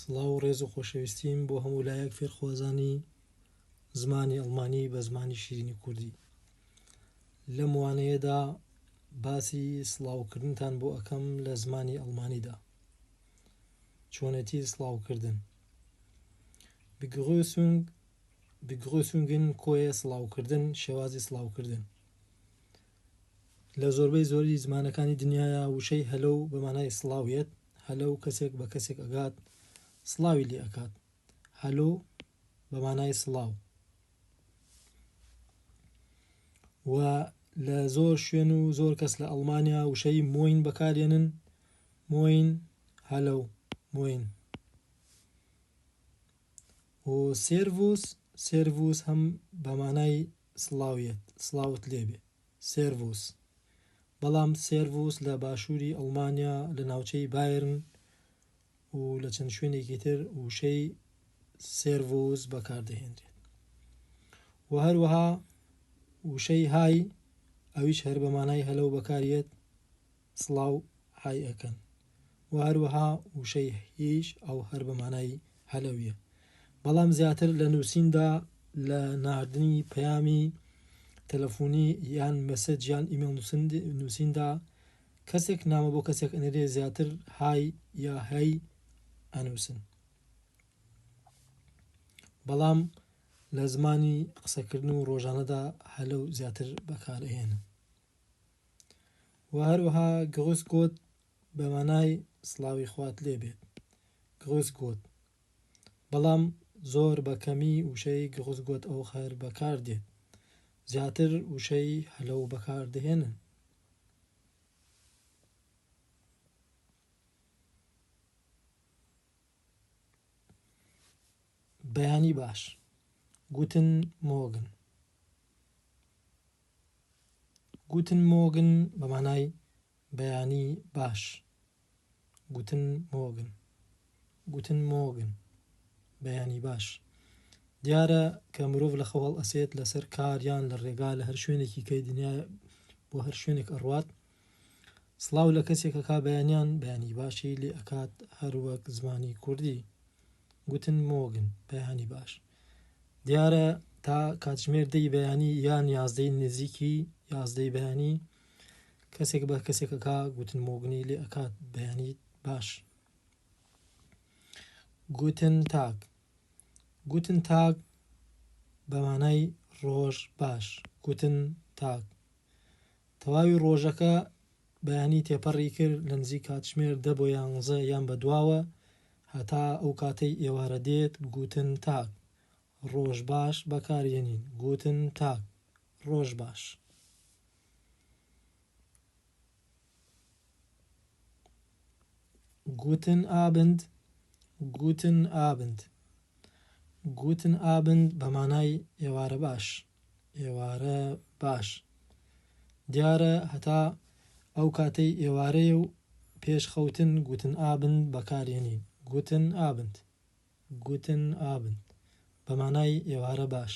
سڵاو و ڕێز و خۆشەویستیم بۆ هەموو لایەک فێرخوازانی زمانی ئەڵمانی بە زمانی شیرینی کوردی لەم وانەیەدا باسی سڵاوکردنتان بۆ ئەەکەم لە زمانی ئەڵمانیدا چۆنێتی سڵاوکردن بگرسونگ بگرسونگن کۆیە سڵاوکردن شێوازی سڵاوکردن لە زۆربەی زۆری زمانەکانی دنیایا وشەی هەلەو بە مانای سڵاو یەت، هەلەو کەسێک بە کەسێک ئەگات سڵاوی لێ ئەکات، هەلۆ بە مانای سڵاو. و لە زۆر شوێن و زۆر کەس لە ئەڵمانیا وشەی مۆین بەکارێنن مۆین هەلەو مۆین و سێرڤوس سێرڤوس هەم بە مانای سڵاویت سڵاوت لێبێ سێرڤوس. بەڵام سێرڤوس لە باشووری ئەڵمانیا لە ناوچەی بایرن و لە چەند شوێنێکی تر وشەی سێرڤوس بەکاردەهێنرێت و هەروەها وشەی های ئەویش هەر بە مانای هەلەو بەکاریێت سڵاو های ئەکەن و هەروەها وشەی هیش ئەو هەر بە مانای هەلەویە بەڵام زیاتر لە نووسیندا لە ناردنی پەیامی تەلەفونی یان مەسج یان ئیمێڵ نووسیندا کەسێک نامە بۆ کەسێک ئەنێرێ زیاتر های یا هەی ئەنووسن بەڵام لە زمانی قسەکردن و ڕۆژانەدا هەلەو زیاتر بەکارهێنن و هەروەها گڕوس گۆت بە مانای سڵاوی خوات لێ بێت، گڕوس گۆت، بەڵام زۆر بە کەمی وشەی گڕوس گۆت ئۆخەر بەکار دێت، زیاتر وشەی هەلەو بەکار دەهێنن. بەیانی باش، گوتن مۆگن. گوتن مۆگن بە مانای بەیانی باش گوتن مۆگن Guten Morgen بەیانی باش دیارە کە مرۆڤ لە خەو هەڵئەسێت لەسەر کار یان لە ڕێگا لە هەر شوێنێکی کەی دنیا بۆ هەر شوێنێک ئەڕوات سڵاو لە کەسێکە کا بەیانیان بەیانی باشی لێ ئەکات هەروەک زمانی کوردی گوتن مۆگن بەیانی باش دیارە تا کاتژمێر دەی بەیانی یان یازدەی نزیکی یازدەی بەیانی کەسێک بە کەسێکەکە گوتن مۆگنی لێ ئەکات بەیانی باش گوتن تاک گوتن تاک بەمانای ڕۆژ باش گوتن تاک تەواوی ڕۆژەکە بەیانی تێپەڕی کرد لە نزیک کاتژمێر دە بۆ یانزە یان بەدواوە هەتا ئەو کاتەی ئێوارە دێت گووتن تاک ڕۆژ باش بەکارێنین گووتن تاک ڕۆژ باش. گووتن ئابند گووتن ئابند گووتن ئابند بە مانای ئێوارە باش. ئێوارە باش دیارە هەتا ئەو کاتەی ئێوارەیە و پێش خەوتن گوتن ئابند بەکارێنین گوتن ئابند گوتن ئابند بە مانای ئێوارە باش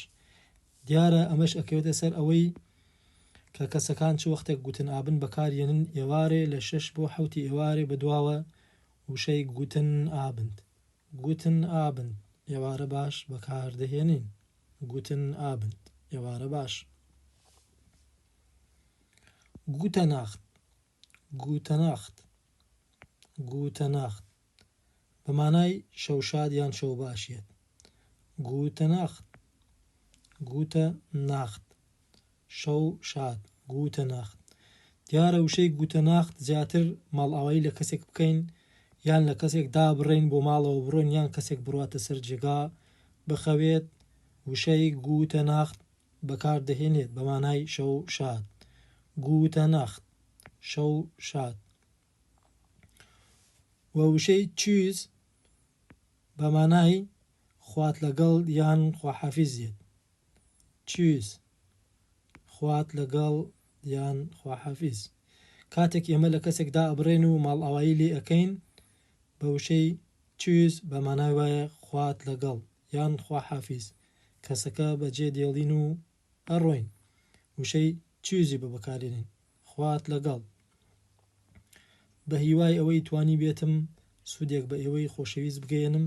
دیارە ئەمەش ئەکەوێتە سەر ئەوەی کە کەسەکان چ وەختێک گوتن ئابند بەکارێنن ئێوارێ لە شەش بۆ حوتی ئێوارێ بە دواوە وشەی گوتن ئابند گوتن ئابند ئێوارە باش بەکاردەهێنین گوتن ئابند، ئێوارە باش. گوتە ناخت، گوتە ناخت، گوتە ناخت، بە مانای شەو شاد یان شەو باش یەت. گوتە ناخت، گوتە ناخت، شەو شاد، گووتە ناخت. دیارە وشەی گووتە ناخت زیاتر ماڵئاوایی لە کەسێک بکەین یان لە کەسێک دابڕێین بۆ ماڵەوە بڕۆین یان کەسێک بڕواتە سەر جێگا بخەوێت وشەی گووتە ناخت بەکار دەهێنێت بە مانای شەو شاد، گووتە ناخت، شەو شاد. و وشەی چیز بە مانای خوات لەگەڵ یان خواحافیز یەت چیز خوات لەگەڵ یان خواحافیز کاتێک ئێمە لە کەسێک دائەبڕێن و ماڵئاوایی لێ ئەکەین بە وشەی چیز بە مانای وایە خوات لەگەڵ یان خواحافیز کەسەکە بەجێ دێڵین و ئەڕۆین وشەی چیوزی ببکارێنین خوات لەگەڵ بەهیوای ئەوەی توانیبێتم سودێک بەئێوەی خۆشەویست بگەیەنم